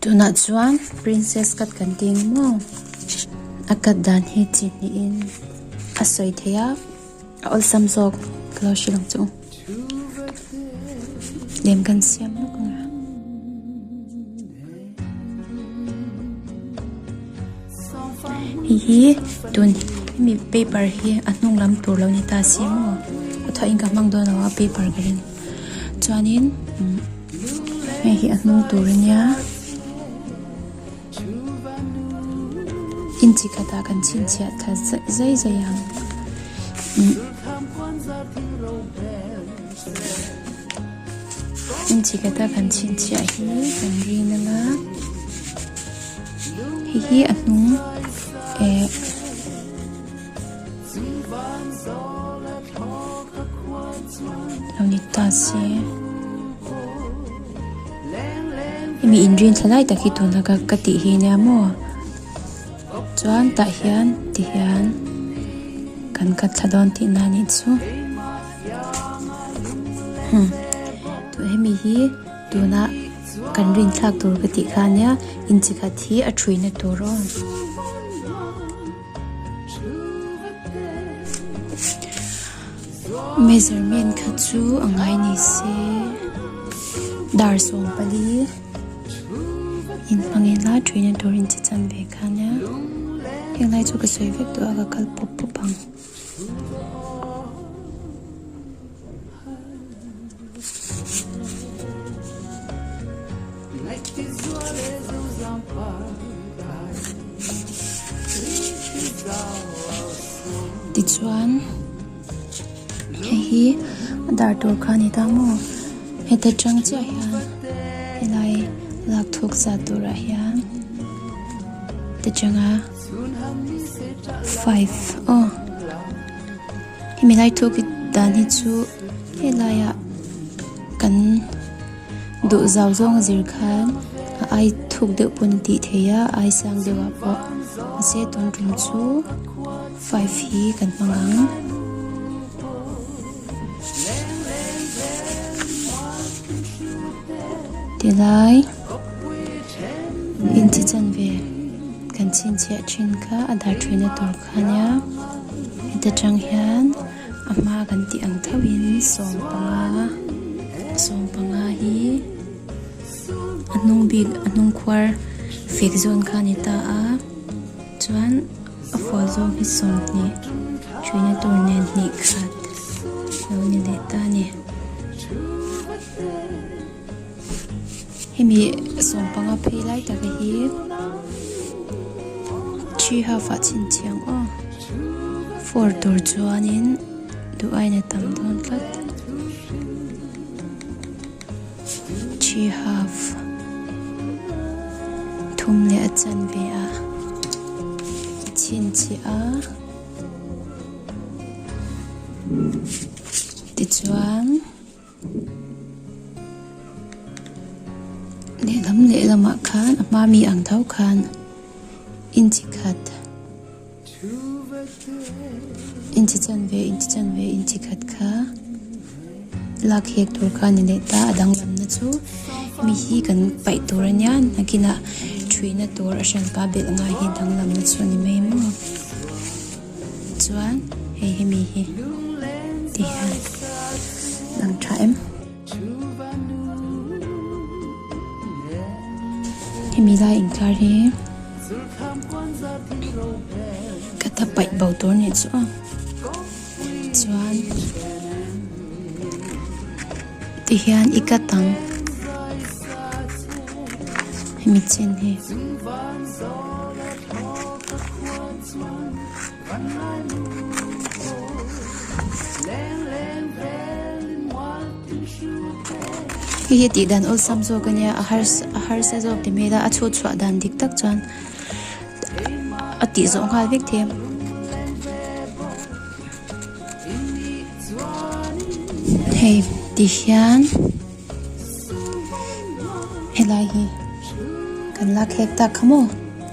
Tunah chuan Princess cut kan ti ang maw? A cut dan hi chi hnihin a sawi thei a, a awlsam zawk ka lo hre lang chu. Lem kan siam lawk ang a. Hei hi tun hemi paper hi a hnung lam tur lo ni ta si maw? Khawthahin ka hmang dawn lo a paper ka ring. chuanin hei hi a hnung tur a nia inchi khatah kan chhinchhiah thla zai zai ang inchi khatah kan chhinchhiah hi kan rin a la hei hi a hnung eh Lonita si. Hemi inrin thalai tak hi tuna ka ka ti hi nia maw? Chuan tah hian ti hian kan ka thla dawn ti na ni chu. Hmm. Tu hemi hi tuna kan rin thlak tur ka ti kha nia. Inchi khat hi a thui na tur aw. Measurement kha chu a ngai ni se dar sawm pali in hmang in la thin a tur in che chan ve khan nia heng lai chu ka sawi vek tawh a ka kal pawp pawp ang. Tichuan hei hi a dar tur kha a ni ta maw heta chang chiah hian helai lak thuk za tur ah hian te changa. Five aw hemi lai thuk i dan hi chu helai a kan duh zau zawng a zir khan a ai thuk deuh pawh a ni tih thei a a ai sang deuh ah pawh a che tawn rum chu five hi kan hmang ang ti lai. In chi chan ve kan chhinchhiah thin kha a dar thina tur kha nia. Heta tang hian a hma kan tih ang thauhin sawm panga, sawm panga hi a hnung bik, a hnung khuar fek zawn kha a ni ta a. Chuan a fual zawng hi sawm hnih thina tur nen hnih khat lo ni leh ta a ni. Hemi sawm panga phei lai taka hi three half ah chhin chiang aw four tur chuanin duh aina tam dawn tlat three half thum leh a chan ve a chhin chhi a tichuan Lehlam lehlamah khan a hma mi ang tho khan inchi khat, inchi chan ve, inchi chan ve, inchi khat kha lak hek tur khan a nei ta. A danglamna chu mi hi kan paih tur a nia, nakinah ṭhuihna tur a hriampa belh ngai hi a danglamna chu a ni mai maw? Chuan hei hi mi hi ti hian lang tha em? Hemi lai intlar hi ka ta paih bo tur nen chu ang. Chuan ti hian i ka tang. Hemi chin hi. Hei hi tih dan awlsam zawk a nia, a harsa, a harsa zawk ti hmel a, a chhut chhuah dan dik tak chuan a tih zawh nghal vek thei a. Hei ti hian helai hi kan la khek tak kha maw?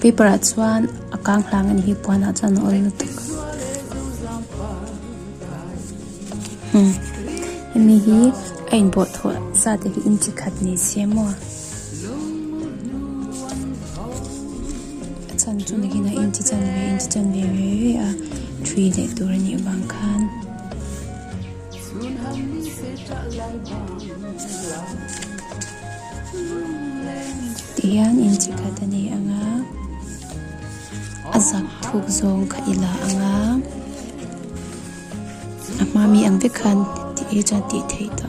Paper ah chuan a kang hlang a ni hi puan ah chuan a awm lutuk umm hemi hi a in bawh thawh zat a hi in chi khat ni se maw a chhan chu nangin a in chi chan ve in chi chan ve ve ve a thui leh tur a nih avang khan chhun ham ni se tah lai bawk. Ti hian in chi khat a ni ang a, a zak thuk zawng kha i la ang a, a hma mi ang vek khan ti hi chuan tih theih ta.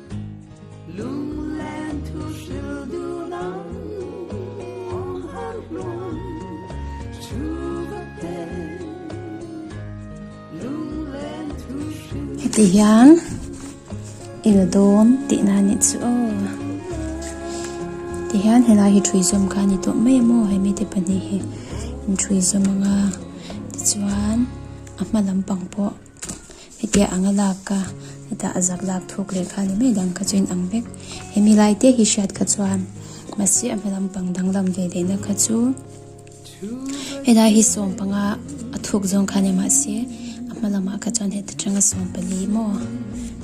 Heti hian i la dawn tih na nih chu aw ti hian he lai hi thui zawm kha ni tawh mai a maw he mi te pahnih hi in thui zawm anga tichuan a hma lam pang pawh-- Hetiang anga lak ka, heta a zak lak thuk leh kha ni mai dang kha chu in ang vek. He milai te hi hriat kha chuan mahse a hma lampang danglam ve leh na kha chu helai hi sawm panga a thuk zawng kha ni mahse a hma lamah kha chuan heta tanga sawm pali maw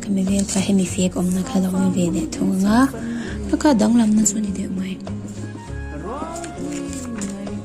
ka mi vel kha hemi fek awm na kha lo ni ve leh thung anga ka kha danglam na chu ni deuh mai.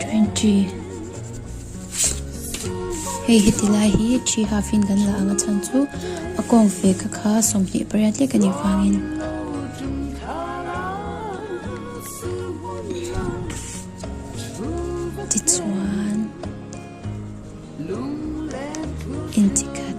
Twenty. Hei heti lai hi three half in kan la ang a chhan chu a kawng ve ka kha sawmhnih pariat hlek a nih vangin ti chuan inti khat.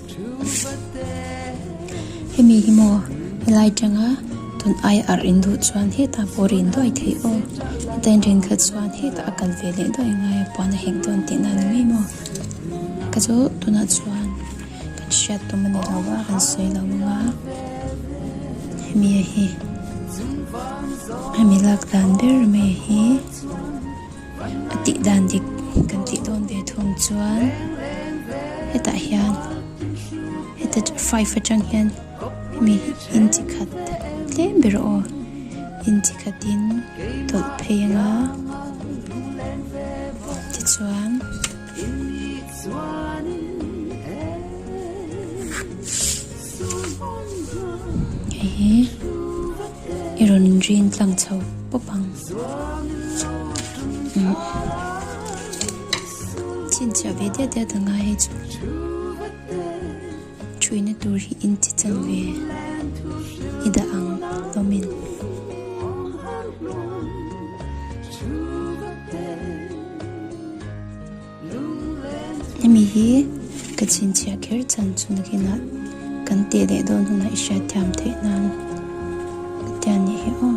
Hemi hi maw helai tanga tun ai arh in duh chuan heta pawh rin duai thei aw heta in rin khat chuan heta a kal ve leh duai ngai a puan a heng dawn tih na ni mai maw ka chu tunah chuan kan hriat tum a ni lo va kan sawi lo mang a hemi hi hemi lak dan ber mai hi. a tih dan dik kan tih dawn ve thung chuan hetah hian heta five atang hian hemi in chi khat tlem ber aw in chi khatin tawlh phei anga tichuan hei hi I rawn inrin tlang chho pawp ang. Mm. Chin chia ve dia dia tanga hei chu. Chuina tur hi in chi chan ve. I da ang lomin. Hemi hi ka chhinchhiah kher chan chu nakinah kan teh leh dawn hunah i hriat thiam theih nan ka tia ni hi aw.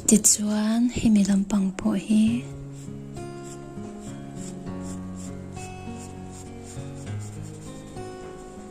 Tichuan hemi lampang pawh hi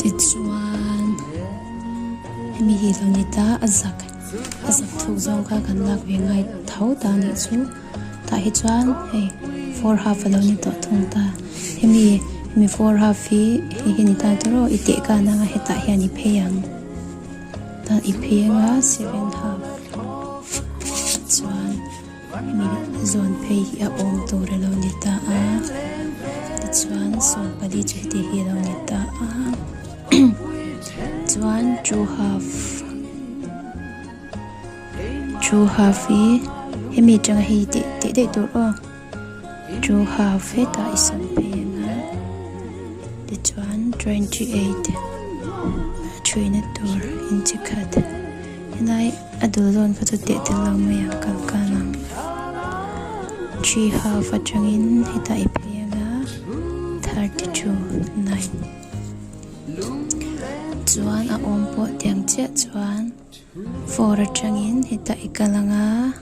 Tichuan hemi hi lo ni ta, a zak a zak thuk zawng kha kan lak ve ngai tho ta nih chu. Tah hi chuan hei four half a lo ni tawh thung ta. Hemi hemi four half hi hei hi ni ta tur aw i teh kan ang a, hetah hian i phei ang. Tah i phei anga seven half chuan. Hemi zawn phei hi a awm tur a lo ni ta a, tichuan sawn pali chu hetiang hi a lo ni ta a, chuan two half, two half hi hemi atanga hei teh teh daih tur aw, two half hetah i sawn phei ang a, tichuan twenty eight a chhuina tur inchikhat. Helai a dul dawn kha chu teh tel lo mai ang kalkan ang. Three half atangin hetah i phei anga thirty two nine chuan a awm pawh tiang chiah chuan four atangin hetah i kal anga.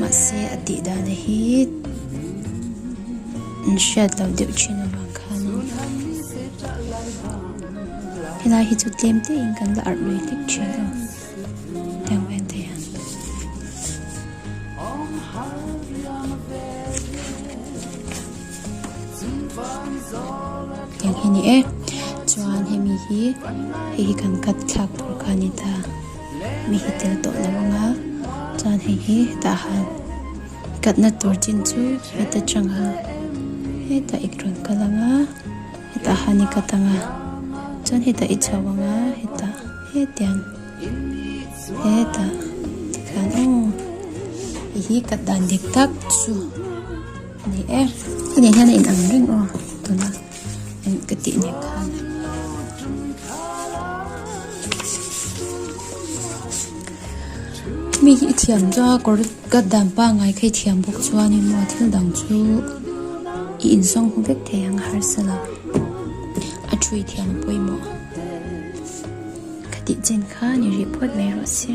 Mahse a tih dana hi in hriat lo deuh thin avang khan in helai hi chu tlem te in kan la arh lui hlek thin aw heng vel te hian heng hi ni e chuan hemi hi hei hi kan cut thlak tur khan ni ta. mi hi tel tawh lo ang a, chuan hei hi hetah han katna tur chin chu heta changa hetah i rawn kal ang a, hetah han i kat ang a, chuan hetah i chho ang a, hetah hetiang hetah tikhan aw i hi kat dan dik tak chu a ni e. Inei hian a inang reng aw tuna. Enh ka tih nen khan. Mi hi i thiam chuan a kawr cut dan pangngai kha i thiam bawk chuan in maw thil dang chu i insawng hu vek thei ang harsa lo. A thu i thiam a pawimawh. Ka tih chen khan i rih phawt mai rawh se.